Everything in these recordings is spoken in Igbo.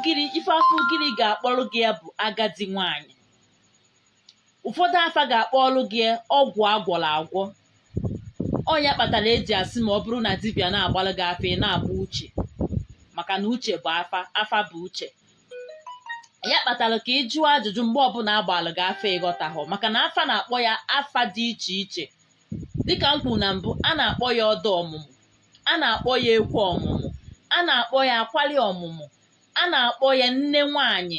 ugiri ife afa ugiri ga-akpọrọ gị ya bụ agadi nwanyị ụfọdụ afa ga-akpọrọ gị ya ọgwụ agwọrọ agwọ ọ ya kpatara eji asị ma ọ bụrụ na dibịa na-agbalụ gị afa ị na-agba uche maka na uche bụ afa afa bụ uche ya kpatara ka ị jụọ ajụjụ mgbe ọbụla agbalụ gị afa ịghọtahụ maka na afa na-akpọ ya afa dị iche iche dịka m kwuru na mbụ a na-akpọ ya ọda ọmụmụ a na-akpọ ya ekwu ọmụmụ a na-akpọ ya akwali ọmụmụ a na-akpọ ya nne nwanyị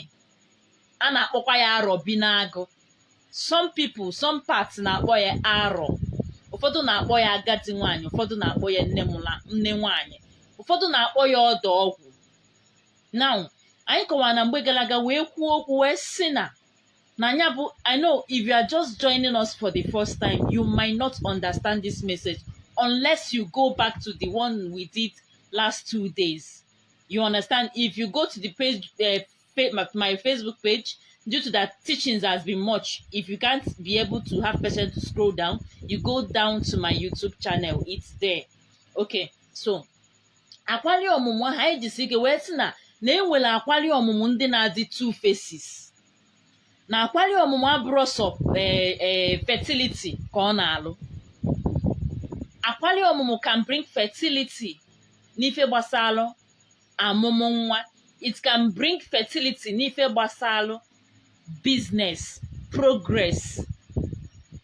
a na-akpọkwa ya arọ bi n'agụ some people some parts na-akpọ ya arọ ụfọdụ na-akpọ ya agadi nwanyị ụfọdụ na-akpọ ya nne mụla nne nwanyị ụfọdụ na-akpọ ya ọda ọgwụ now anyị kọwara na mgbe gara aga wee kwuo okwu wee sị na na ya bụ i know if you are just joining us for the first time you might not understand this message unless you go back to the one we did last two days you understand if you go to the page uh, my facebook page due to that teachings has been much if you can't be able to have patience to scroll down you go down to my youtube channel it's there okay so akwali ọmụmụ ahụ anyị jisi ike wee sị na na e nwere akwali ọmụmụ ndị na-adị two faces na akwali ọmụmụ abụrụ sọ ee ee fertility ka ọ na-alụ akwali ọmụmụ can bring fertility n'ife gbasalụ amụmụ nwa it can bring fertility n'ife gbasalụ business progress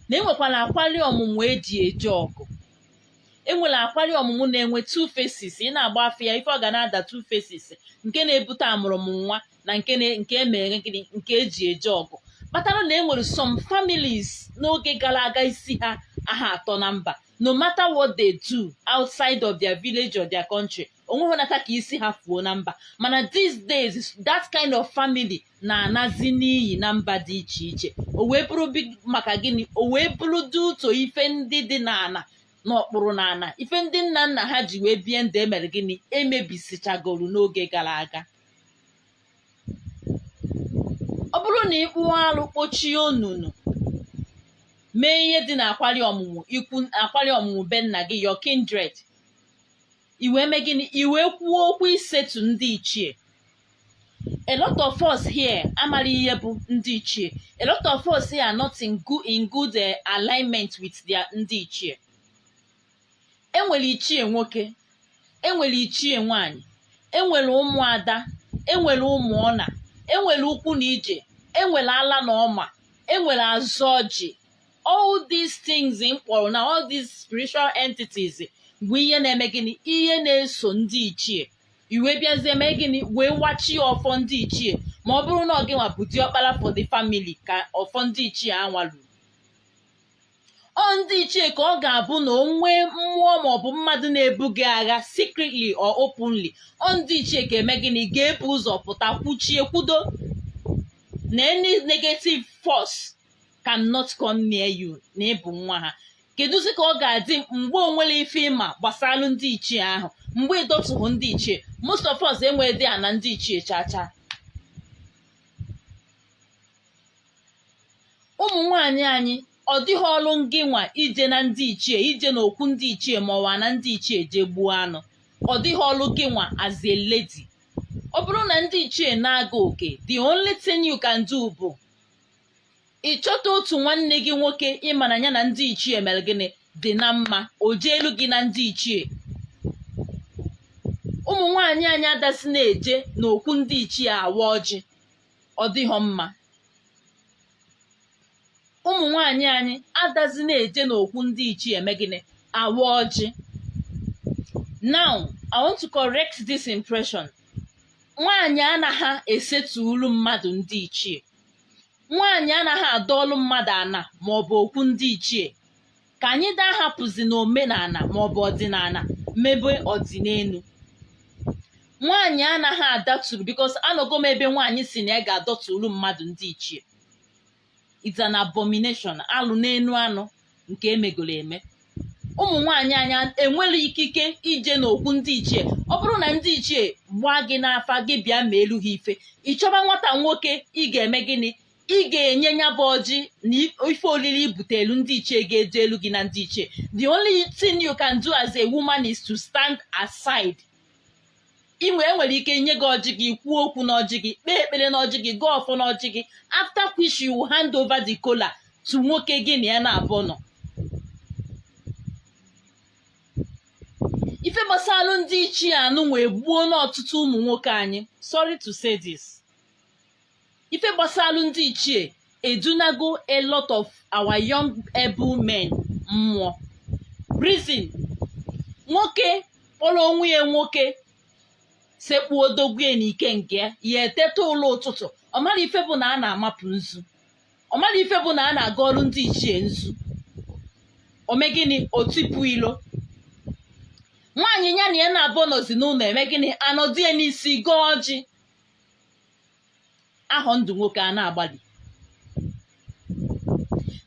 na enwekwara akwali ọmụmụ eji eje ọgụ enwere akwali ọmụmụ na-enwe two faces ị na-agba afa ya ife ọ ga na-ada two faces nke na-ebute amụrụ m nwa na nke na- nke emere gịnị nke eji eje ọgụ kpatara na enwere some families n'oge gara aga isi ha aha atọ na mba no matter what they do outside of their village or their country onweghị nata ka isi ha fuo na mba mana these days that kind of family na-anazi n'iyi na mba dị iche iche o wee bụrụ maka gịnị o wee bụrụ due to ife ndị dị n'ana n'okpuru n'ana ife ndị nna nna ha ji wee bie ndụ emere gịnị emebisichagoro n'oge gara aga ọ bụrụ na ịkpụ alụ kpochie onunu mee ihe dị na akwari ọmụmụ ikwu akwari ọmụmụ be nna gị your kindred i wee mee gịnị i wee kwuo okwu i settle ndị ichie a lot of us here amara ihe bụ ndị ichie a lot of us here are not in good, in good eh, alignment with their ndị ichie enwere ichie nwoke enwere ichie nwanyị enwere ụmụada enwere ụmụnna enwere ụkwụ na ije enwere ala na ọma enwere azụ ọjị all these things m kpọrọ na all these spiritual entities bụ ihe na-eme gịnị ihe na-eso ndị ichie i wee bịazie mee gịnị wee wachi ọfọ ndị ichie ma ọ bụrụ na ọ gị nwa bụ diọkpara for the family ka ọfọ ndị ichie anwa lu ọ ndị ichie ka ọ ga-abụ na o nwee mmụọ maọbụ mmadụ na-ebu gị agha secretly or openly ọ ndị ichie ga-eme gịnị ga-ebu ụzọ pụta kwuchie kwudo na any negative force cannot come near you na ị bụ nwa ha keduzi ka ọ ga-adị mgbe o nwere ife ị ma gbasalụ ndị ichie ahụ mgbe ị dọtughị ndị ichie most of us enwerodị ana ndị ichie chacha ụmụ nwanyị anyị ọ dịghị ọrụ gị nwa ije na ndị ichie ije na okwu ndị ichie ma ọ bụ ana ndị ichie jee gbuo anụ ọ dịghị ọrụ gị nwa as a lady ọ bụrụ na ndị ichie na-aga oke the only thing you can do bụ ị chọta otu nwanne gị nwoke ị ma na ya na ndị ichie eme gịnị dị na mma o jeelu gị na ndị ichie ụmụ nwaanyị anyị adazi na-eje n'okwu ndị ichie awa ọjị ọ dịghọ mma ụmụ nwaanyị anyị adazi na-eje n'okwu ndị ichie eme gịnị awa ọjị now i want to correct this impression nwaanyị anaghị esetulu mmadụ ndị ichie nwaanyị anaghị adọọlụ mmadụ ana ma ọ bụ okwu ndị ichie ka anyị daa hapụzi na omenana ma ọ bụ ọdịnana mebe ọdịnenu nwaanyị anaghị adọturu because anọgo m ebe nwaanyị si na ya ga-adọturu mmadụ ndị ichie it's an abomination alụ n'enu alụ nke emegoro eme ụmụ nwaanyị anyị enwero ikike ije n'okwu ndị ichie ọ bụrụ na ndị ichie gbaa gị n'afa gị bịa meelu ha ife ị chọba nwata nwoke ị ga-eme gịnị ị ga-enye ya bụ ọjị na ife olili i butelu ndị ichie ga-ejelu gị na ndị ichie the only thing you can do as a woman is to stand aside i nwe e nwere ike nye gị ọjị gị kwuo okwu n'ọjị gị kpee ekpere n'ọjị gị gọọ ọfọ n'ọjị gị after which you will hand over the kola to nwoke gị na ya naabọ nọ ife gbasalụ ndị ichie anụnwa egbuona ọtụtụ ụmụ nwoke anyị sorry to say this ife gbasalụ ndị ichie edunago a lot of our young able men mmụọ reason nwoke kpọrọ onwe ya nwoke sekpuo dogwue na ike nke ya ya eteta ụla ụtụtụ ọ mara ife bụ na a na-amapụ nzu ọ mara ife bụ na a na-akarụ ndị ichie nzu o mee gịnị o tipu ilo nwaanyị ya na ya naabọ nọzi n'ụnọ eme gịnị anọdụ ya n'isi gọọ ọjị ahọ ndụ nwoke a na-agbalị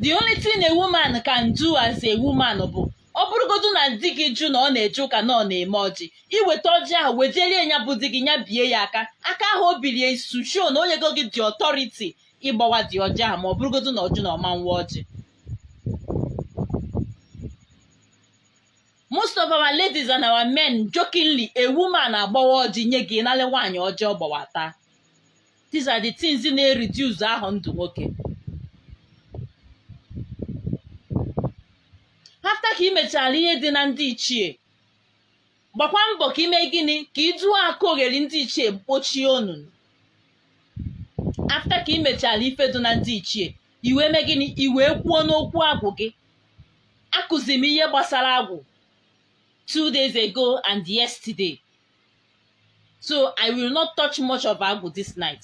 the only thing a woman can do as a woman bụ ọ bụrụgodu na di gị jụ na ọ na-eje ụka na ọ na-eme ọjị i weta ọjị ahụ wejelie ya bụ di gị ya bie ya aka aka ahụ o biri ya is to show na o nyego gị the authority ịgbawa the ọjị ahụ ma ọ bụrụgodu na ọ jụ na ọ ma-awa ọjị most of our ladies and our men jokingly a woman agbawa ọjị nye gị nalị nwaanyị ọjị ọ gbawata these are the things na-ereduce afọ ndụ nwoke after ka ị mechara ihe dị na ndị ichie gbakwa mbọ ka i mee gịnị ka ị jụọ akụ oghere ndị ichie kpochie onunu after ka ị mechara ife dị na ndị ichie i wee mee gịnị i wee kwuo n'okwu agwụ gị akụziri m ihe gbasara agwụ two days ago and yesterday so i will not touch much of agwụ this night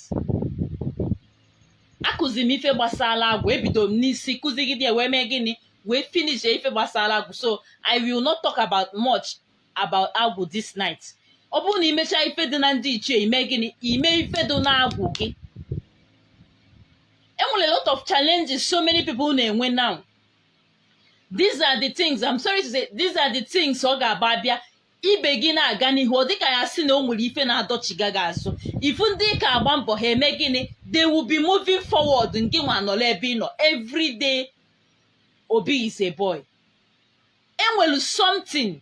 akụziri m ife gbasara agwụ ebido m n'isi kuzigide wee mee gịnị wee finish ife gbasara agwụ so i will not talk about much about agwụ this night ọ bụrụ na i mechaa ife dị na ndị ichie i mee gịnị i mee ife dị na agwụ gị e nwere a lot of challenges so many people na-enwe now these are the things I'm sorry to say these are the things ọ ga-abụ a bịa ibe gị na-aga n'ihu ọ dịka a sị na o nwere ife na-adọchigha gị azụ ị fụ ndị ị ka agba mbọ ha eme gịnị they will be moving forward ngị nwa anọrọ ebe ị nọ everyday obi is a boy e nwere something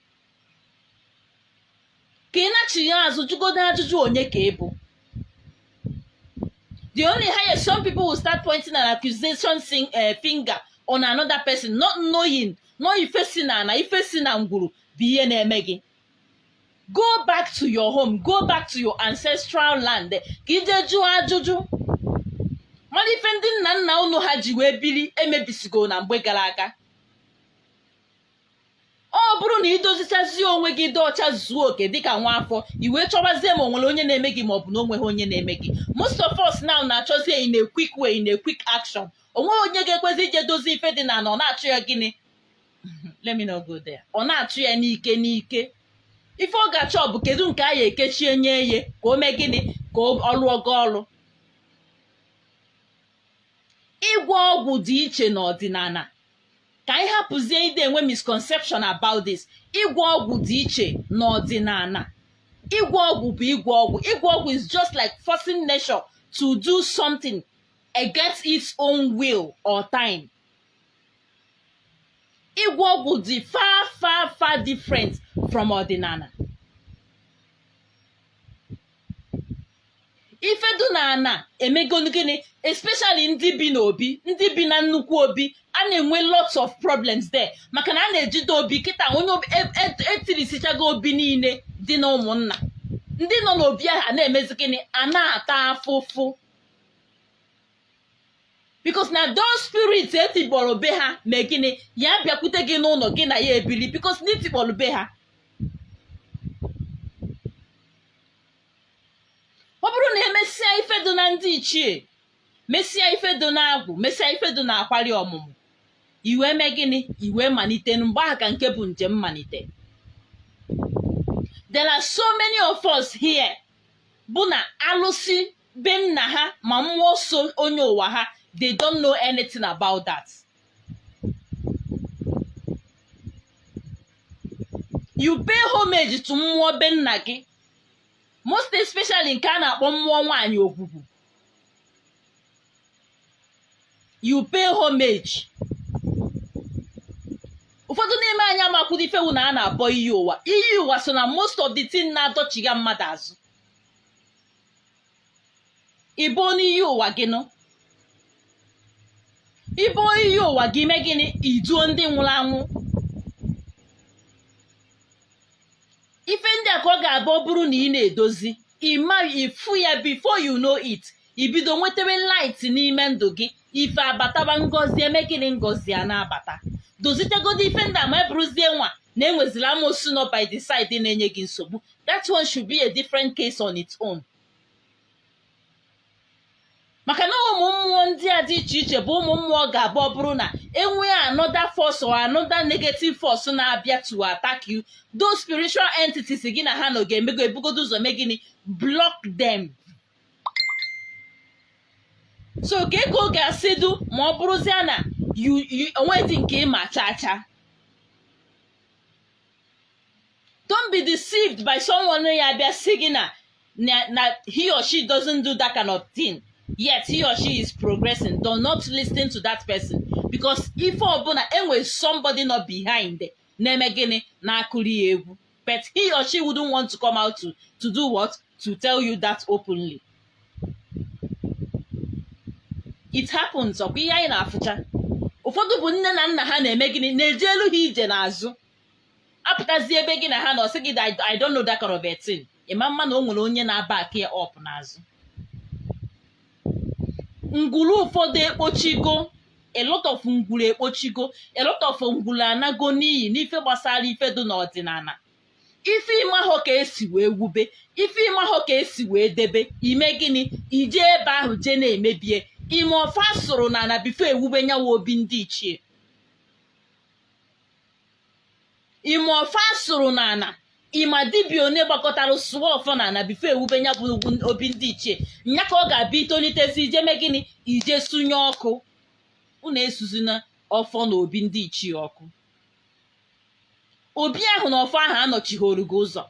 ka ị nachigha azụ jụgodo ajụjụ onye ka ị bụ the only highest some people will start pointing an accusation sing, uh, finger on another person not knowing na ife si na ana ife si na ngwuru bụ ihe na-eme gị go back to your home go back to your ancestral land ka i jee jụọ ajụjụ mara ife ndị nna nna unu ha ji wee biri emebisigo na mgbe gara aga ọ bụrụ na i dozichazie onwe gị dị ọcha zuo oke dịka nwa afọ i wee chọbazie ma o nwere onye na-eme gị ma ọ bụ na o nweghị onye na-eme gị most of us now na-achọzie in a quick way in a quick action o nweghị onye ga-ekwezi ije dozie ife dị na ana ọ na-achụ ya gịnị let me not go there ọ na-achụ ya n'ike n'ike ife ọ ga-achọ bụ kedu nke a ya-ekechi enye ye ka o mee gịnị ka ọ lụọ gị ọlụ ịgwọ ọgwụ dị iche n'ọdịnana ka anyị hapụzie ịdị enwe misconception about this ịgwọ ọgwụ dị iche n'ọdịnana ịgwọ ọgwụ bụ ịgwọ ọgwụ ịgwọ ọgwụ is just like forcing nature to do something against its own will or time ịgwọ ọgwụ dị far far far different from ọdịnana ife dụ na ana emegonu gịnị especially ndị bi n'obi ndị bi na nnukwu obi a na-enwe lots of problems there maka na a na-ejide obi kịta onye obi- e- e- etirisichago obi niile dị na ụmụnna ndị nọ n'obi ahụ a na-emezi gịnị a na-ata afụfụ because na those spirit etikpọrọ be ha mee gịnị ya bịakwute gị n'ụlọ gị na ya ebili because na itikpọrọ be ha ọ bụrụ na emesịa ife dị na ndị ichie mesịa ife dị na agwụ mesịa ife dị na akwari ọmụmụ i wee mee gịnị i wee malite mgbe ahụ ka nke bụ njem malite there are so many of us here bụ na alụsị be nna ha ma mmụọ so onye ụwa ha they don't know anything about that you pay homage to mmụọ be nna gị most especially nke a na-akpọ mmụọ nwaanyị ogwugwu you pay homage ụfọdụ n'ime anyị amakwụdo ife wu na a na-abọ iyi ụwa iyi ụwa so na most of the thing na-adọchiga mmadụ azụ ịbọnie iyi ụwa gị nụ ịbọnie iyi ụwa gị imee gịnị iduo ndị nwụrụ anwụ ife ndị a ka ọ ga-abụ ọ bụrụ na ị na-edozi ịma ịfụ ya before you know it ibido nwetawe light n'ime ndụ gị ife abataba ngozi eme gịnị ngozi a na-abata dozitegodi ife ndị a ma ọ bụrụzie nwa na enwezila amosu nọ by the side na-enye gị nsogbu that one should be a different case on its own maka na ụmụ mmụọ ndị a dị iche iche bụ ụmụ mmụọ ga-abụ ọ bụrụ na enwee another force or another negative force na-abịa to attack you those spiritual entities gị na ha nọ ga-emego ebugodo ụzọ mee gịnị block them so kee ka ọ ga-esi dụ ma ọ bụrụzie na o nwedị nke ịma chaa chaa don't be deceived by someone ya abịa sị gị na na he or she doesn't do that kind of thing yet he or she is progressing do not listen to that person because ife ọ bụ na enwere somebody nọ behind na-eme gịnị na-akụrụ ya egwu but he or she wouldn't want to come out to to do what to tell you that openly it happens ọkwa ihe anyị na-afụcha ụfọdụ bụ nne na nna ha na-eme gịnị na-ejelu ha ije n'azụ apụtazi ebe gị na ha nọ sị gị I don't know that kind of a thing ịma ama na o nwere onye na-aback ya up n'azụ ngwuru ụfọdụ ekpochigo a lot of ngwuru ekpochigo a lot of ngwuru anago n'iyi n'ife gbasara ife dị n'ọdịnana ife ịmahọ ka esi wee wube ife ịmahọ ka esi wee debe imee gịnị ijee ebe ahụ jee na-emebie ịmahọ ife a sụrụ n'ana before ewube nyawa obi ndị ichie ị ma ọfọ a sụrụ n'ana ị ma dibia one gbakọtara sụọ ọfọ n'ana before e wube nya bụ obi ndị ichie nya ka ọ ga-abụ i tolitezie i je mee gịnị i je sunye ọkụ unu esuzina ọfọ na obi ndị ichie ọkụ obi ahụ na ọfọ ahụ anọchihọrọ gị ụzọ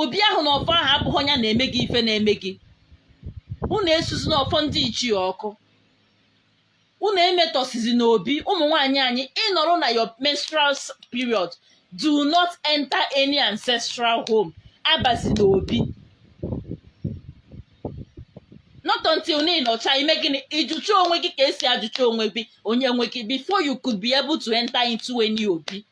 obi ahụ na ọfọ ahụ abụhọ nya na-eme gị ife na-eme gị unu esuzina ọfọ ndị ichie ọkụ unu emetọsizina obi ụmụ nwaanyị anyị ị nọrọ na your menstrual s- period do not enter any ancestral home abazina obi not until na ị nọcha i mee gịnị ị jụcha onwe gị ka e si ajụcha onwe gị onye nwe gị before you could be able to enter into any obi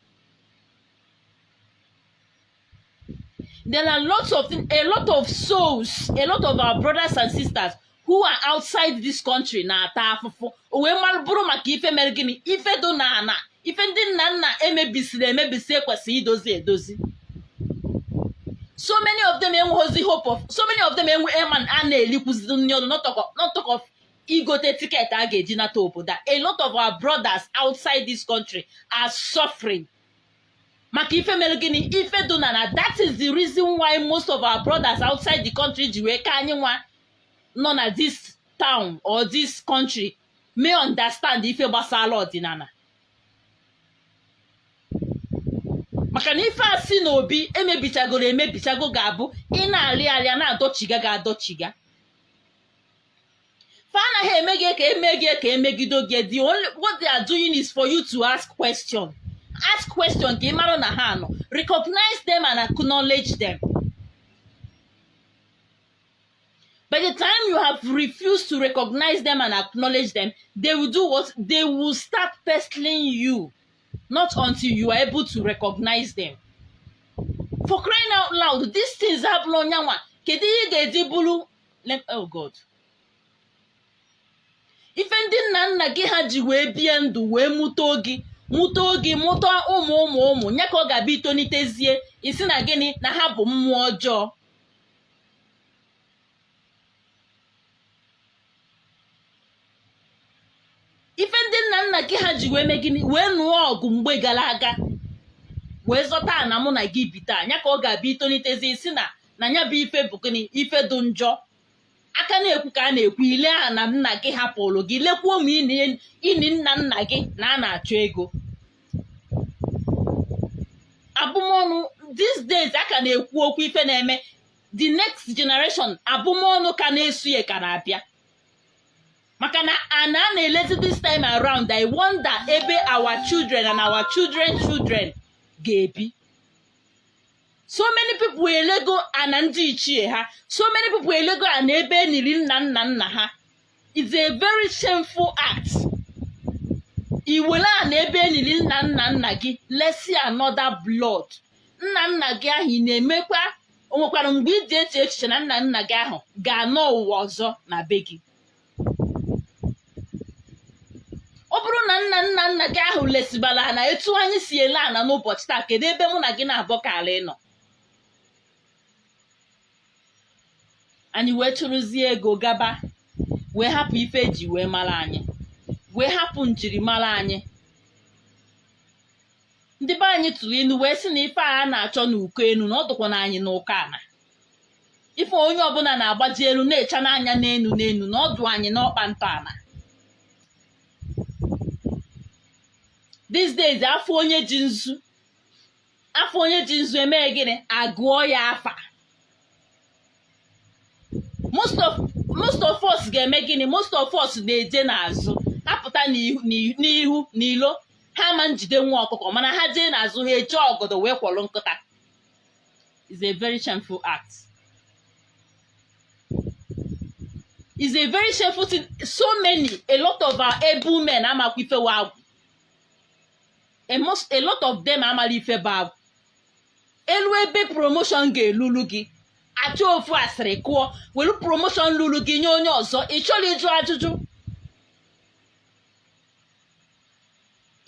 there are lots of a lot of souls a lot of our brothers and sisters who are outside this country na-ata afụfụ o wee mara bụrụ maka ife mere gịnị ife dị n'ana ife ndị nna nna emebisiri emebisi e kwesịrị idozi edozi so many of them enweghịzi hope so many of them enwe eman a na-elikwuzi nni ọnụ not talk of- not talk of igote ticket a ga-eji nata obodo a a lot of our brothers outside this country are suffering maka ife mere gịnị ife dị n'ana that is the reason why most of our brothers outside the country ji wee ka anyị nwa nọ na this town or this country may understand ife gbasara ọdịnana maka na ife a si n'obi emebichagoro emebichago ga-abụ ị na-arị arị a na-adọchiga gị adọchiga fa anaghị eme gị ka eme gị ka emegido gị the only what they are doing is for you to ask question ask question ka ị mara na ha nọ recognize them and acknowledge them by the time you have refused to recognize them and acknowledge them they will do what they will start pestering you not until you are able to recognize them for crying out loud these things abụrụ onyanwa kedu ihe ị ga-eji bụrụ Lem- oh God. ife ndị nna nna gị ha ji wee bie ndụ wee mụta gị mụta gị mụta ụmụ ụmụ ụmụ nya ka ọ ga-abụ i tonitezie ị sị na gịnị na ha bụ mmụọ ọjọọ ife ndị nna nna gị ha ji wee mee gịnị wee nụọ ọgụ mgbe gara aga wee zọta ana mụ na gị bi taa nya ka ọ ga-abụ i tolitezie ị sị na na nya bụ ife bụ gịnị ife dị njọ a ka na-ekwu ka a na-ekwu i lee ana nna gị hapụrụ gị lekwuo ma ini nna nna gị na a na-achọ ego abụmọnụ these days a ka na-ekwu okwu ife na-eme the next generation abụmọnụ ka na-eso ya ka na-abịa maka na ana a na-elezi this time around i wonder ebe our children and our children children ga-ebi so many people elego ana ndị ichie ha so many people elego ana ebe eniri nna nna nna ha is a very shameful act iwere ana ebe eniri nna nna nna gị lesi another blood nna nna gị ahụ ị na-emekwa o nwekwara mgbe i ji eche echiche na nna nna gị ahụ ga-anọ ụwa ọzọ na be gị ọ bụrụ na nna nna nna gị ahụ lesibara ana etu anyị si ele ana n'ụbọchị taa kedu ebe mụ na gị naabọ kara ịnọ anyị wee chụrụzie ego gaba wee hapụ ife eji wee mara anyị wee hapụ njirimara anyị ndị be anyị tụrụ inu wee sị na ife a na-achọ n'uko enu na ọ dụkwa na anyị n'uko ana ife onye ọbụla na-agbaji elu na-echa n'anya n'enu n'enu na ọ dụ anyị n'ọkpa ntọ ana these days afụ onye ji nzu afụ onye ji nzu eme gịnị agụọ ya afa most of most of us ga-eme gịnị most of us na-eje n'azụ ha pụta n'ihu n'ihu- n'ihu n'ilo ha ama njide nwa ọkụkọ mana ha jee n'azụ ha eji ọgọdọ wee kwọrọ nkụta is a very shameful act is a very shameful thing so many a lot of our able men amakwa ife wụ agwụ a, most, a lot of them amala ife bụ agwụ elu ebe promotion ga-elulu gị achọọ ofu asịrị kụọ welu promotion lulu gị nye onye ọzọ ị chọrọ ịjụ ajụjụ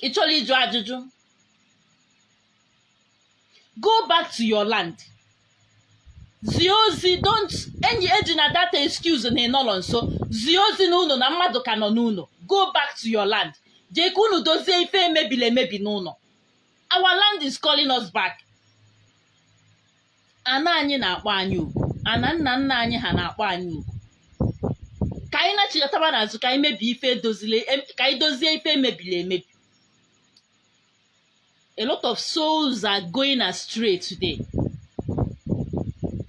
ị chọrọ ịjụ ajụjụ go back to your land zie ozi don't ejina that excuse na ị nọrọ nso zie ozi n'ụlọ na mmadụ ka nọ n'ụlọ go back to your land jee ka unu dozie ife emebiri emebi n'ụlọ our land is calling us back ana anyị na-akpọ anyị oku ana nna nna anyị ha na-akpọ anyị oku ka anyị nachighataba n'azụ ka anyị mebie ife edozile em- ka anyị dozie ife emebiri emebi a lot of souls are going astray today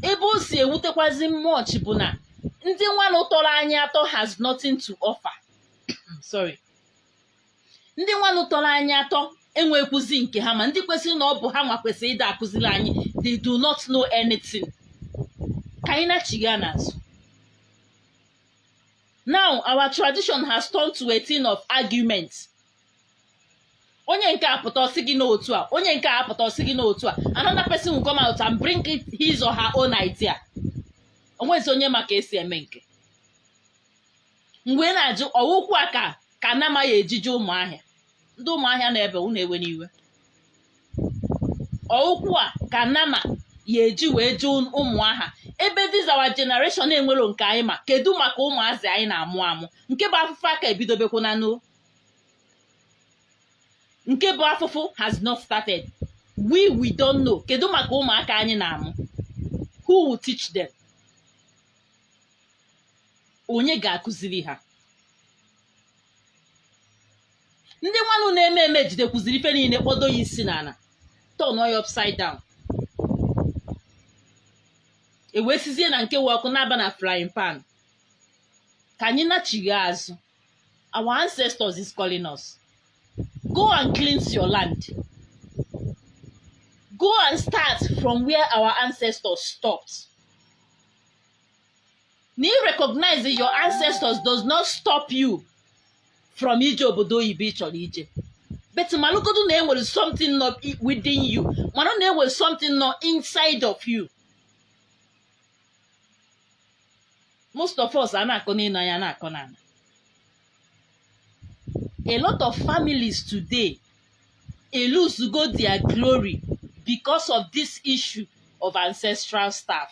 ebe o si ewutekwazi m much bụ na ndị nwanụ tọrọ anyị atọ has nothing to offer sorry ndị nwanụ tọrọ anyị atọ enwekwuzi nke ha ma ndị kwesịrị na ọ bụ ha nwa kwesịrị ịda akụziri anyị they do not know anything ka anyị nachigha n'azụ now our tradition has turned to a thing of argument onye nke a pụta ọ sị gị n'otu a onye nke a pụta ọ sị gị n'otu a another person will come out and bring it his or her own idea o nwezi onye ma ka esi eme nke mgbe ị na-ajụ ọwụkwụ a ka ka anamaghị eji jụ ụmụahịa ndị ụmụahịa na ebe unu ewena iwe ọwụkwụ a ka nama ya eji wee jụ ụmụahịa ebee this our generation enwero nke anyị ma kedu maka ụmụazị anyị na-amụ amụ nke bụ afụfụ aka ebidobekwu na n'o nke bụ afụfụ has not started we we don't know kedu maka ụmụaka anyị na-amụ who will teach them onye ga-akụziri ha ndị nwanụ na-eme eme ejidekwuziri ife niile kpọdo ya isi n'ala turn ya upside down ewee sizie na nke ọkụ na-aba na frying pan ka anyị nachigha azụ our ancestors is calling us go and cleanse your land go and start from where our ancestors stopped na ị recognize your ancestors does not stop you from ije obodo oyibo ị chọrọ ije but malụgodu na enwere something nọ i- within you mara na enwere something nọ inside of you most of us a na-akọ n'enu a na-akọ n'ala a lot of families today elosego their glory because of this issue of ancestral staff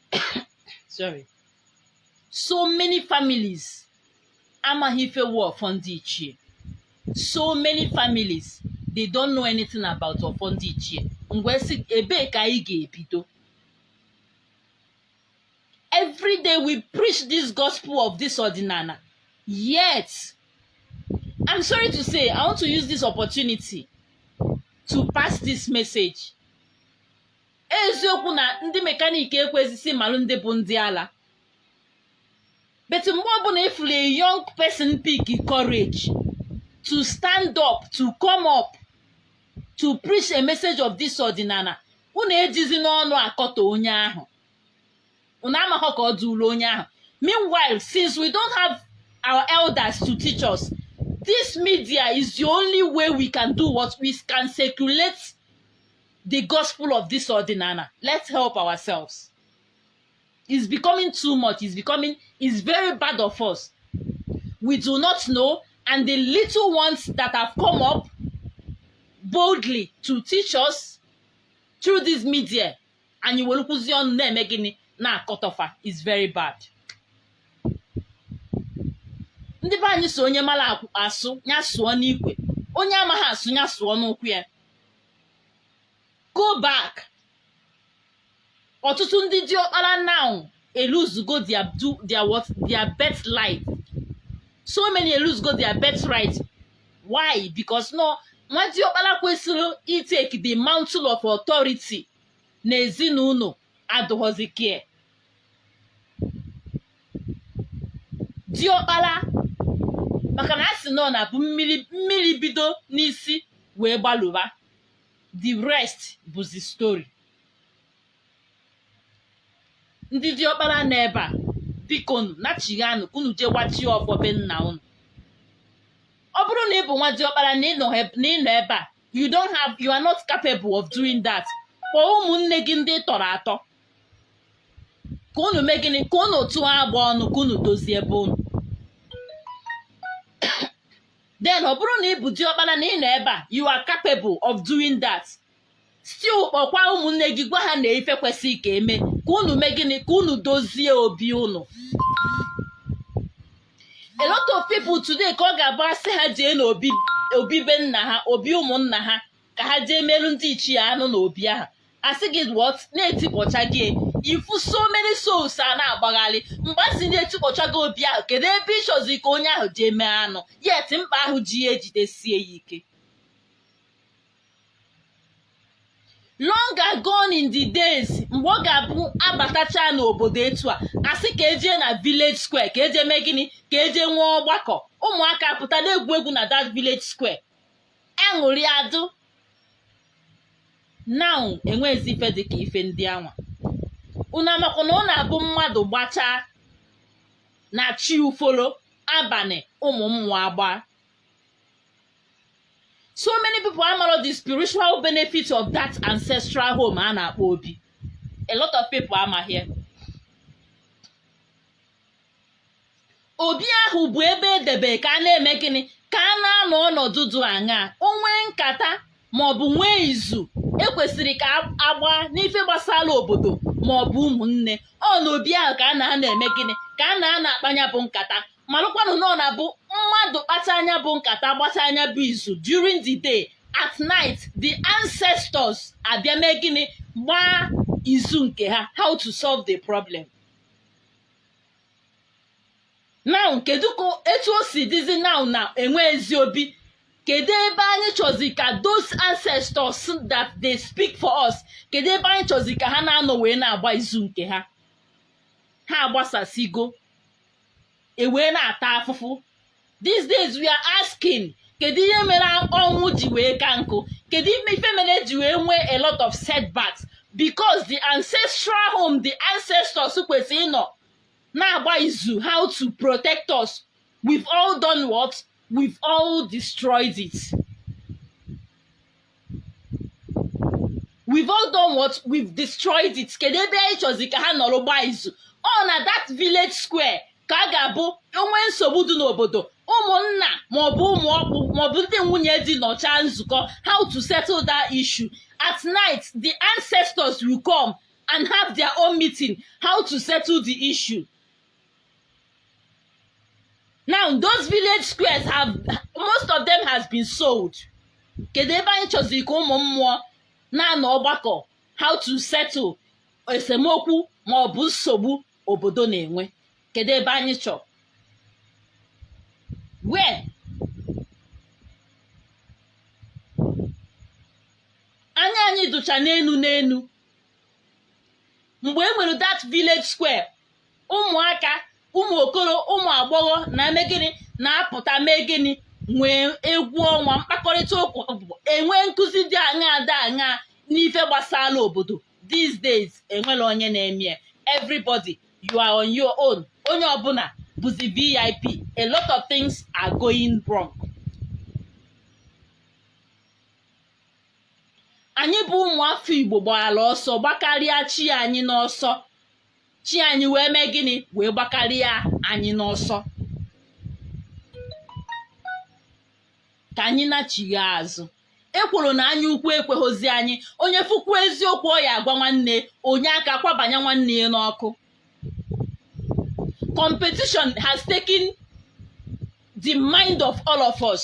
sorry so many families amaghị ife wu ọfọ ndị ichie so many families they don't know anything about ọfọ ndị ichie ngwa si ebee ka anyị ga-ebido every day we preach this gospel of this ọdịnana yet i'm sorry to say i want to use this opportunity to pass this message eziokwu na ndị mekaniki ekwezisi malụ ndị bụ ndị ala but mgbe ọbụla ị fụrụ a young person pick courage to stand up to come up to preach a message of this ọdịnana unu ejizi n'ọnụ akọtọ onye ahụ unu amaghọ ka ọ dụụrụ onye ahụ meanwhile since we don't have our elders to teach us this media is the only way we can do what we can circulate the gospel of this ọdịnala let's help ourselves is becoming too much is becoming is very bad of us we do not know and the little ones that have come up boldly to teach us through this media anyị werekwuzi ọnụ na-eme gịnị na-akọtọ fa is very bad ndị be anyị so onye mara asụ ya sụọ n'ikwe onye amaghị asụ ya sụọ n'ụkwụ ya go back ọtụtụ ndị diọkpara now elosego their do their what their birth life so many elosego their birth right why because na nwa diọkpara kwesịrị itake the mantle of authority na ezinụlọ adụghọzi ka diọkpara maka na a sị na ọ na-abụ mmiri mmiri bido n'isi wee gbaluba the rest bụzi story ndị diọkpara nọ ebe a bikonu nachighaanụ ka unu jee wachie ọfọ be nna unu ọ bụrụ na ị bụ nwa diọkpara na ị nọ heb- na ị nọ ebe a you don't have you are not capable of doing that kpọọ ụmụnne gị ndị ị tọrọ atọ ka unu mee gịnị ka unu tụọ agba ọnụ ka unu dozie be unu then ọ bụrụ na ị bụ diọkpara na ị nọ ebe a you are capable of doing that still kpọkwa ụmụnne gị gwa ha na ife kwesịrị ka e mee ka unu mee gịnị ka unu dozie obi unu a lot of people today ka ọ ga-abụ a sị ha jee n'obi obi be nna ha obi ụmụnna ha ka ha jee meerụ ndị ichie anụ na obi ahụ a sị gị what na etikpọchago ya ị fụ so many souls ana-agbagharị mgbe a sị na etikpọchago obi ahụ kedu ebe ị chọzi ka onye ahụ jee mee anụ yet mkpa ahụ ji ya ejidesie ya ike long gone in the days mgbe ọ ga-abụ a batacha n'obodo etu a a sị ka e jee na village square ka e jee mee gịnị ka e jee nwee ọgbakọ ụmụaka pụta na-egwu egwu na that village square aṅụrị adụ now enwezi ife dị ka ife ndị anwa unu amakwa na ọ na-abụ mmadụ gbachaa na chi ufolo abalị ụmụ mmụọ agbaa so many people amara the spiritual benefit of that ancestral home a na-akpọ obi a lot of people amaghị obi ahụ bụ ebe edebe ka a na-eme gịnị ka a na-anọ ọnọdụ dụ aṅaa o nwee nkata ma ọ bụ nwee izu ekwesịrị ka agba n'ife gbasara obodo ma ọ bụ ụmụnne ọ n'obi ahụ ka a na-anọ eme gịnị ka a na-anọ akpa nya bụ nkata malụkwanụ na ọ na-abụ mmadụ kpachaa nya bụ nkata gbachaa nya bụ izu during the day at night the ancestors abịa mee gịnị gbaa izu nke ha how to solve the problem now kedu ka etu o si dịzi now na enweghịzi obi kedu ebe anyị chọzi ka those ancestors that they speak for us kedu ebe anyị chọzi ka ha na-anọ wee na-agba izu nke ha ha agbasasigo ewee na-ata afụfụ these days we are asking kedu ihe mere ọnwụ ji wee ka nkụ kedu ife mere e ji wee nwee a lot of setbacks because the ancestral home the ancestors kwesịrị ịnọ na-agba izu how to protect us we've all done what we've all destroyed it we've all done what we've destroyed it kedu ebe anyị chọzi ka ha nọrọ gbaa izu ọ na that village square ka a ga-abụ o nwee nsogbu dị n'obodo ụmụnna maọbụ ụmụ ọkpụ maọbụ ndị nwunye di nọchaa nzukọ how to settle that issue at night the ancestors will come and have their own meeting how to settle the issue now those village squares most of them has been sold kedu ebe anyị chọzi ka ụmụ mmụọ na-anọ ọgbakọ how to settle esemokwu ma ọ bụ nsogbu obodo na-enwe kedu ebe anyị chọ where anya anyị dụcha n'enu n'enu mgbe e nwere that village square ụmụaka ụmụ okoro ụmụ agbọghọ na-eme gịnị na-apụta mee gịnị nwee egwu ọnwa mkpakọrịta ụka enwee nkuzi dị aṅaa dị aṅaa n'ife gbasara obodo these days enwere onye na-eme everybody you are on your own onye ọbụla bụzi vip a lot of things are going wrong anyị bụ ụmụafọ igbo gbara ọsọ gbakarịa chi anyị n'ọsọ chi anyị wee mee gịnị wee gbakarịa anyị n'ọsọ ka anyị nachighaa azụ ekworo na anya ukwu ekweghịzi anyị onye fụkwu eziokwu ọ ya-agwa nwanne onye aka kwabanye nwanne ya n'ọkụ competition has taken the mind of all of us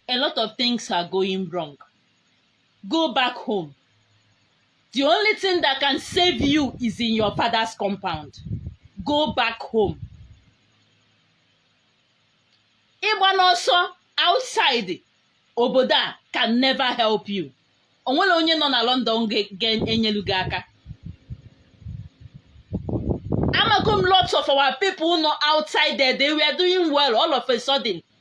a lot of things are going wrong go back home the only thing that can save you is in your father's compound go back home ịgba n'ọsọ outside obodo a can never help you o nwere onye nọ na London ga-enyelu gị aka amago m lots of our people nọ outside there they were doing well all of a sudden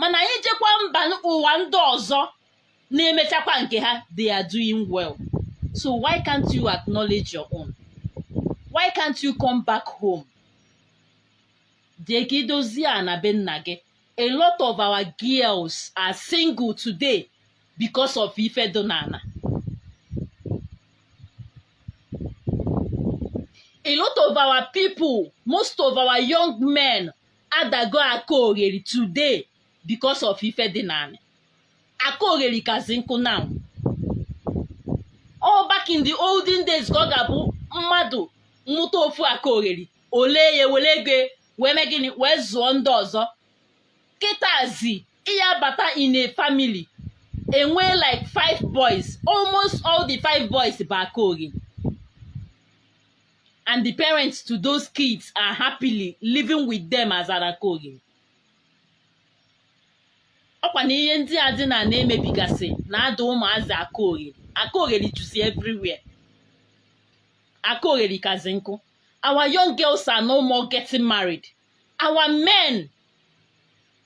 mana ị jekwa mba ụwa ndị ọzọ na-emechakwa nke ha they are doing well so why can't you acknowledge your own why can't you come back home jee ka i dozie ana be nna gị a lot of our girls are single today because of ife dị n'ana a lot of our people most of our young men adago aka ogheri today because of ife dị n'anị aka ogheri kazi nkụ now all back in the olden days ka ọ ga-abụ mmadụ mụta ofu aka ogheri o lee ya were ego wee mee gịnị wee zụọ ndị ọzọ kịtazi ị ya-abata in a family e nwee like five boys almost all the five boys bụ aka ogheri and the parents to those kids are happily living with them as an aka ogheri. ọkwa na ihe ndị a dị n'ana e mebigasị na-ada ụmụazị aka ogheri aka ogheri juzi everywhere aka ogheri kazi nkụ our young girls are no more getting married our men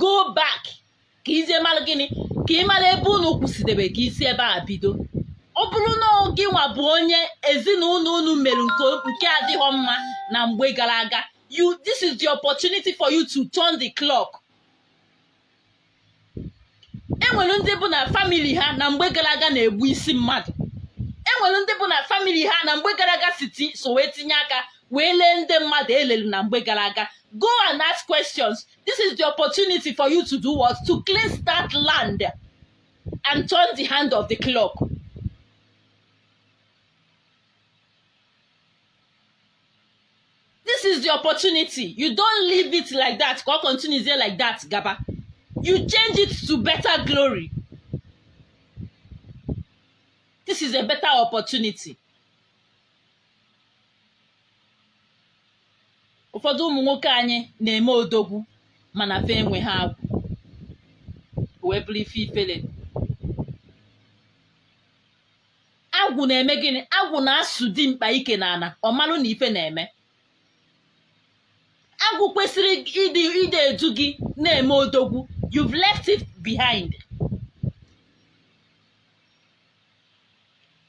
go back ka izie mara gịnị ka ị mara ebe unu kwụsịdebe ka i si ebe a bido ọ bụrụ na gịnwa bụ onye ezinụlọ unu mere nke adịhọ mma na mgbe gara aga you this is the opportunity for you to turn the clock enwere ndị bụ na famili ha na mgbe gara aga na-egbu isi mmadụ enwere ndị bụ na famili ha na mgbe gara aga siti so wee tinye aka wee lee ndị mmadụ elelu na mgbe gara aga go and ask questions this is the opportunity for you to do what to clean that land and turn the hand of the clock this is the opportunity you don't leave it like that ka ọ continue dey like that gaba you change it to better glory this is a better opportunity ụfọdụ ụmụ nwoke anyị na-eme odogwu mana ife enwe ha agwụ wee bụrụ ife ifele agwụ na-eme gịnị agwụ na-asụ dimkpa ike n'ana ọ malụ na ife na-eme agwụ kwesịrị ịdị edu gị na-eme odogwu you've left it behind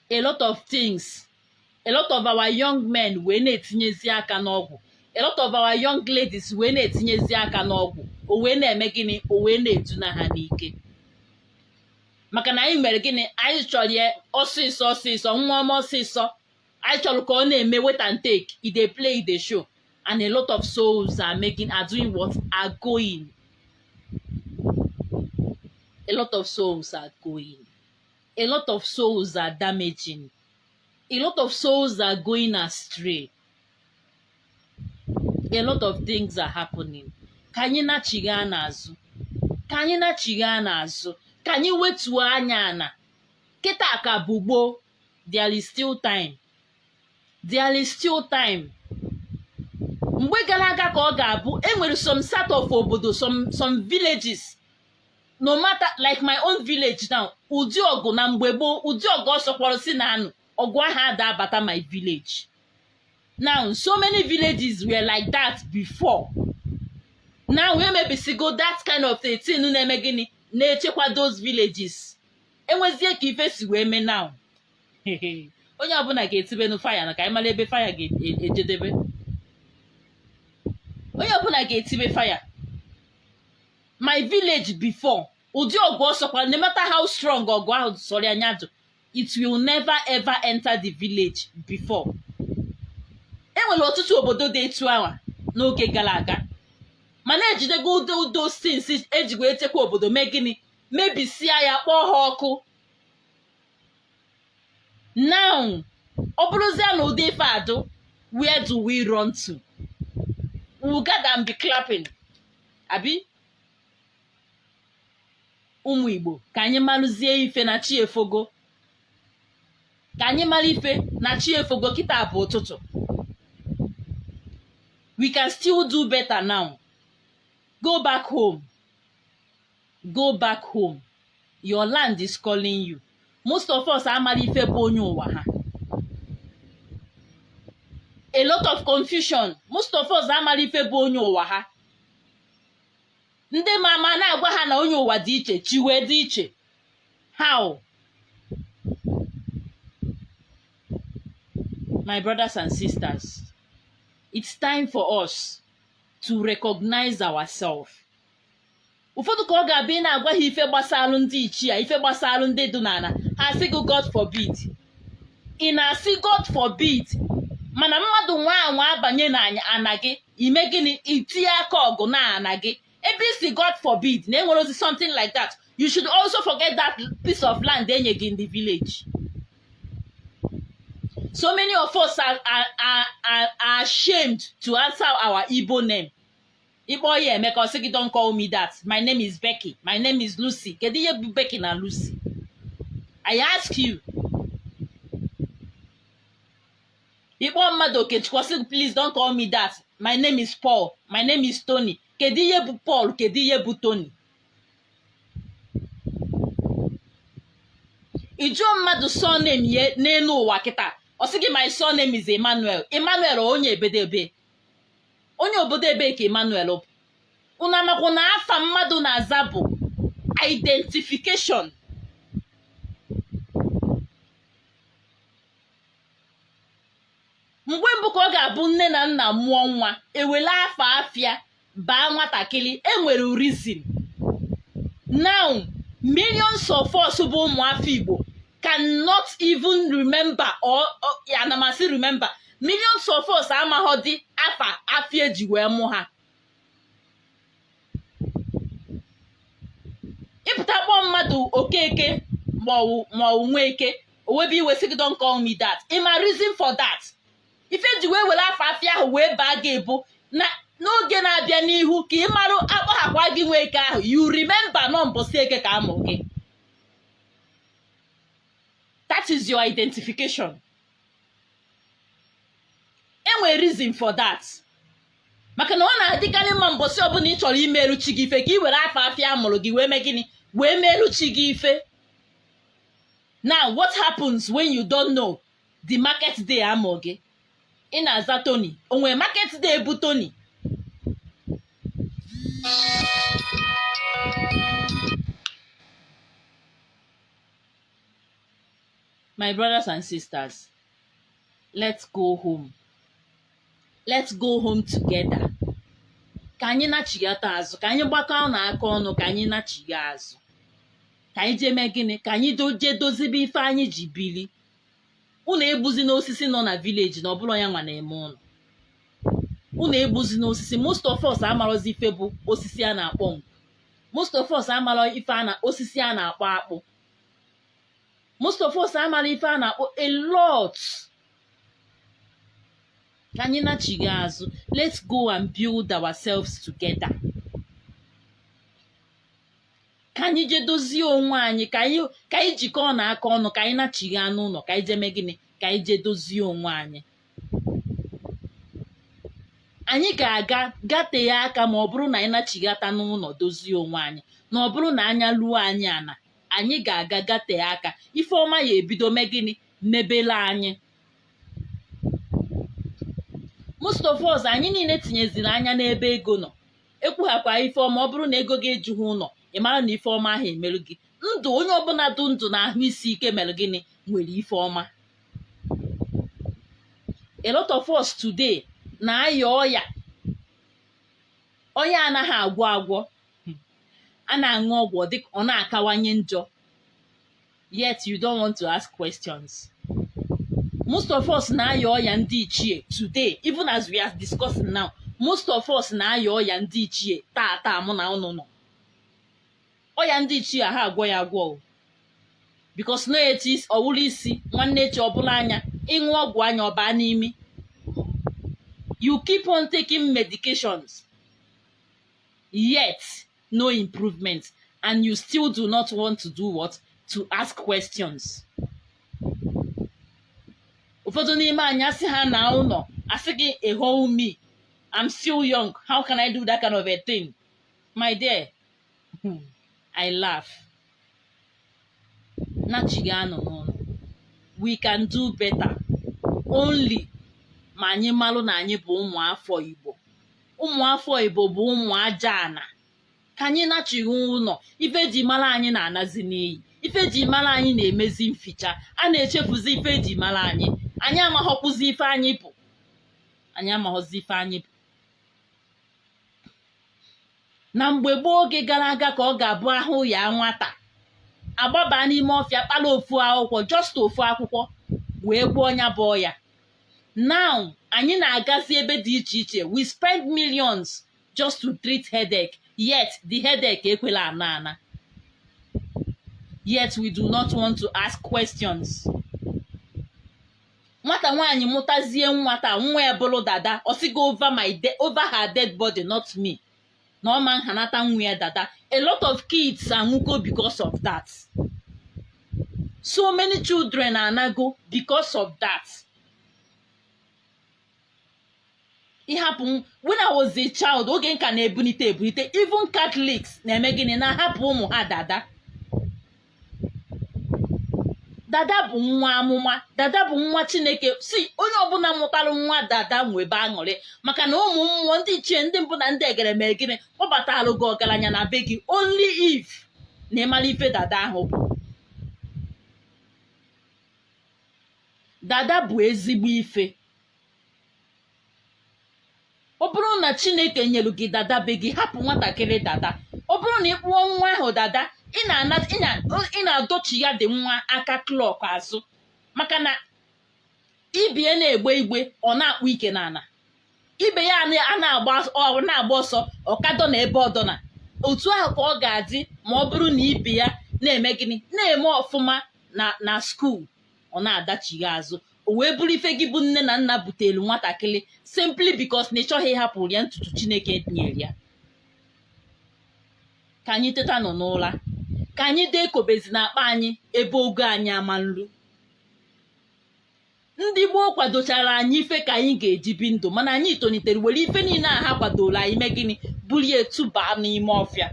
a lot of things a lot of our young men wee na-etinyezi aka n'ọgwụ a lot of our young ladies wee na-etinyezi aka n'ọgwụ o wee na-eme gịnị o wee na-eduna ha n'ike maka na anyị mere gịnị anyị chọrọ ya ọsịsọ ọsịsọ nwa ọma ọsịsọ anyị chọrọ ka ọ na-eme wait and take e dey play e dey show and a lot of souls are making are doing what are going a lot of souls are going a lot of souls are damaging a lot of souls are going astray a lot of things are happening ka anyị nachigha n'azụ ka anyị nachigha n'azụ ka anyị wetuo anya ana kịta ka bụ gboo there is still time there is still time mgbe gara aga ka ọ ga-abụ enwere some sort of obodo some villages no matter like my own village now ụdị ọgụ na mgbe gboo ụdị ọgụ ọ sọkwọrọ si na-anụ ọgụ ahụ ada abata my village now so many villages were like that before now emebisigo that kind of a thing na-eme gịnị na-echekwa those villages enwezie ka ife si wee mee now onye ọbụla ga-etibenu fire na ka anyị mara ebe fire ga-ejedebe onye ọbụla ga-etibe fire my village before ụdị ọgụ ọ sọkwa no matter how strong ọgụ ahụ sọrọ anya jụ it will never ever enter the village before enwere ọtụtụ obodo dị etu ahụ n'oge gara aga mana ejidego those things eji wee chekwa obodo mee gịnị mebisia ya kpọọ ha ọkụ now ọ bụrụzie na ụdị ife a dụ where do we run to we will gather and be clapping abi ụmụ igbo ka anyị malụzie ife na chi efogo ka anyị mara ife na chi efogo kịta bụ ụtụtụ we can still do better now go back home go back home your land is calling you most of us amara ife bụ onye ụwa ha a lot of confusion most of us amara ife bụ onye ụwa ha ndị ma ama na-agwa ha na onye ụwa dị iche chi wee dị iche how my brothers and sisters it's time for us to recognize ourselves ụfọdụ ka ọ ga-abụ ị na-agwa ha ife gbasalụ ndị ichie ife gbasalụ ndị dị n'ana ha sị gị God forbid ị na-asị god forbid mana mmadụ nwaa anwa abanye na ana gị ị mee gịnị itinye aka ọgụ na ana gị ebe ị sị god forbid na enwerọzi something like that you should also forget that piece of land enye gị in the village so many of us are, are, are, are ashamed to answer our igbo name ị kpọọ ya emeka ọ sị gị don't call me that my name is becky my name is lucy kedu ihe bụ becky na lucy i ask you ị kpọọ mmadụ okechukwu ọ sị gị please don't call me that my name is paul my name is tony kedu ihe bụ paul kedu ihe bụ tony ị jụọ mmadụ surname ya n'enu ụwa kịta ọ sị gị my surname is emmanuel emmanuel onye ebedebe onye obodo ebee ka Emmanuel bụ unu makwa na afa mmadụ na-aza bụ identification mgbe mbụ ka ọ ga-abụ nne na nna mụọ nwa ewele afa afịa baa nwatakịrị enwere reason now millions of us bụ ụmụafọ Igbo cannot even remember or ana m asị remember millions of us amahọdị afa afịa eji wee mụ ha ị pụta kpọọ mmadụ okeke ma ọ wụ ma ọ wụ nweke o webe iwe sị gị don't call me that ị ma reason for that ife eji wee were afa afịa ahụ wee baa gị bụ na n'oge na-abịa n'ihu ka ị marụ akpọhakwa gị nweke ahụ you remember na ọ mbọsị eke ka amụ gị that is your identification enwere reason for that maka na ọ na-adịkarị mma mbọsị ọbụna ị chọrọ imelụ chi gị ife ka ị were afa afịa amụrụ gị wee mee gịnị wee meelụ chi gị ife now what happens when you don't know the market day amụ gị ị na-aza Tony o nwe market day bụ Tony my brothers and sisters let's go home let's go home together ka anyị nachighata azụ ka anyị gbakọọ nụ aka ọnụ ka anyị nachigha azụ ka anyị jee mee gịnị ka anyị jee dozibe ife anyị ji bili unu egbuzina osisi nọ na village na ọ bụrọ ya nwa na-eme unu unu egbuzina osisi most of us amarọzi ife bụ osisi a na-akpọ nkụ most of us amarọ ife a na osisi a na-akpọ akpụ most of us amarọ ife a na-akpọ a lot ka anyị nachigha azụ let's go and build ourselves together ka anyị jee dozie onwe anyị ka anyị ka anyị jikọọ na aka ọnụ ka anyị nachigha n'ụnọ ka anyị jee mee gịnị ka anyị jee dozie onwe anyị anyị ga-aga gatee aka ma ọ bụrụ na anyị nachighata n'ụlọ dozie onwe anyị na ọ bụrụ na anya luo anyị ana anyị ga-aga gatee aka ife ọma ya ebido mee gịnị mebele anyị most of us anyị niile tinyeziri anya n'ebe ego nọ ekwughakwa ife ọma ọ bụrụ na ego gị ejughị ụlọ ị mara na ife ọma aha emerụ gị ndụ onye ọbụla dụ ndụ na ahụ isi ike mere gịnị nwere ife ọma a lot of us today na-aya ọya ọya anaghị agwọ agwọ a na-aṅụ ọgwụ ọ dịka ọ na-akawanye njọ yet you don't want to ask questions most of us na-aya ọya ndị ichie today even as we are discussing now most of us na-aya ọya ndị ichie taa taa mụ na unu nọ ọya ndị ichie aha agwọ ya agwọ o because na etu isi- ọ wụrụ isi nwanne echi ọ bụrụ anya ị ṅụọ ọgwụ anya ọ baa n'imi you keep on taking medications yet no improvement and you still do not want to do what to ask questions ụfọdụ n'ime anyị asị ha na ụlọ asị gị a whole me I'm still young how can I do that kind of a thing my dear hmm, I laugh nachighanụ n'ụnọ we can do better only ma anyị malụ na anyị bụ ụmụ afọ igbo ụmụ afọ igbo bụ ụmụ aja ana ka anyị nachigha ụlọ ife e ji mara anyị na-anazi n'iyi ife e ji mara anyị na-emezi mficha a na-echefuzi ife e ji mara anyị anyị amaghọkwụzi ife anyị bụ anyị amaghọzi ife anyị bụ na mgbe gboo oge gara aga ka ọ ga-abụ ahụ yaa nwata a gbaba n'ime ọfịa kpara ofu akwụkwọ just ofu akwụkwọ wee gwọọ ya bụ ọya now anyị na-agazi ebe dị iche iche we spend millions just to treat headache yet the headache ekwerọ ana ana yet we do not want to ask questions. nwata nwaanyị mụtazie nwa taa nwa ya bụrụ dada ọ sị gị over my de- over her dead body not me na ọ ma nhanata nwa ya dada a lot of kids anwụgo because of that so many children anago because of that ịhapụ m when I was a child oge m ka na-ebulite ebulite even Catholics na-eme gịnị na-ahapụ ụmụ ha dada dada bụ nwa amụma dada bụ nwa chineke si onye ọbụla mụtara nwa dada nwebe aṅụrị maka na ụmụ mmụọ ndị ichie ndị mbụ na ndị egede mee gịnị kpọbatalụ gị ọgaranya na be gị only if na ị mara ife dada ahụ bụ dada bụ ezigbo ife ọ bụrụ na chineke nyelu gị dada be gị hapụ nwatakịrị dada ọ bụrụ na ị kpụọ nwa ahụ dada ị na-ana- ị na- ị na-adọchi ya dị nwa aka clock azụ maka na ibe ya na-egbe igbe ọ na-akpụ ike n'ala ibe ya ana- a na-agba ọ na-agba ọsọ ọ ka dọ na ebe ọ dọ na otu ahụ ka ọ ga-adị ma ọ bụrụ na ibe ya na-eme gịnị na-eme ọfụma na na school ọ na-adachigha azụ o wee bụrụ ife gị bụ nne na nna butere nwatakịrị simply because na ị chọghị ịhapụrụ ya ntutu chineke nyere ya ka anyị tetanụ n'ụra ka anyị de ekobezina akpa anyị ebe ogo anyị ama nlu ndị gboo kwadochara anyị ife ka anyị ga-eji bi ndụ mana anyị tolitere were ife niile a ha kwadoro anyị mee gịnị bulie tụba n'ime ọfịa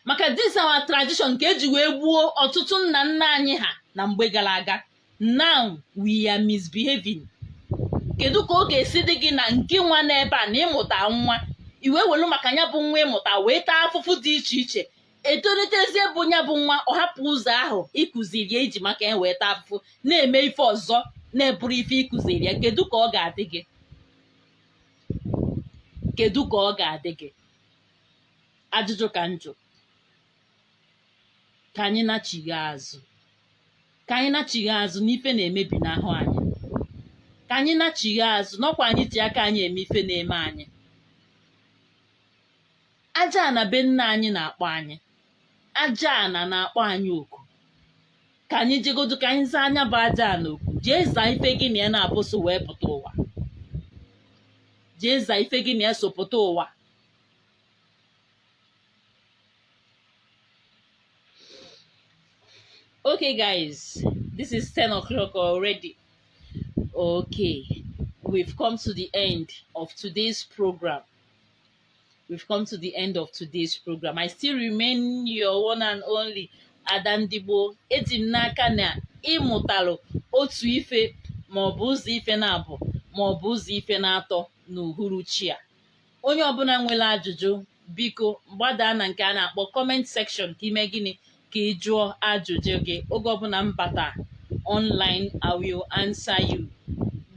maka this our tradition nke eji wee gbuo ọtụtụ nna nna anyị ha na mgbe gara aga now we are misbehaving kedu ka ọ ga-esi dị gị na ngị nwa n'ebe a na ị mụta nwa ị wee welu maka ya bụ nwa ị mụta wee taa afụfụ dị iche iche etolitezie bụ ya bụ nwa ọ hapụ ụzọ ahụ ị kụziri ya i ji maka ya wee taa afụfụ na-eme ife ọzọ na-abụrọ ife ị kụziri ya kedu ka ọ ga-adị gị kedu ka ọ ga-adị gị ajụjụ ka m jụ ka anyị nachigha azụ ka anyị nachigha azụ na ife na-emebinahụ anyị ka anyị nachigha azụ na ọ kwa anyị ji aka anyị eme ife na-eme anyị ajaana be nna anyị na-akpọ anyị ajaana na-akpọ anyị oku ka anyị jegodu ka anyị zaa nya bụ ajaana oku jee zaa ife gị na ya naabọ so wee pụta ụwa jee zaa ife gị na ya so pụta ụwa okay guys this is 10 o'clock already okay we've come to the end of today's program we've come to the end of today's program i still remain your one and only ada ndigbo eji m n'aka na ị mụtalụ otu ife maọbụ ụzọ ife naabọ maọbụ ụzọ ife naatọ n'uhuruchi a onye ọbụla nwere ajụjụ biko gbadaa na nke a na-akpọ comment section ka i mee gịnị ka ị jụọ ajụjụ gị oge ọbụla m bata online i will answer you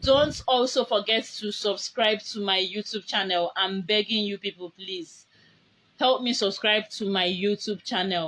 don't also forget to subscribe to my youtube channel i'm begging you people please help me subscribe to my youtube channel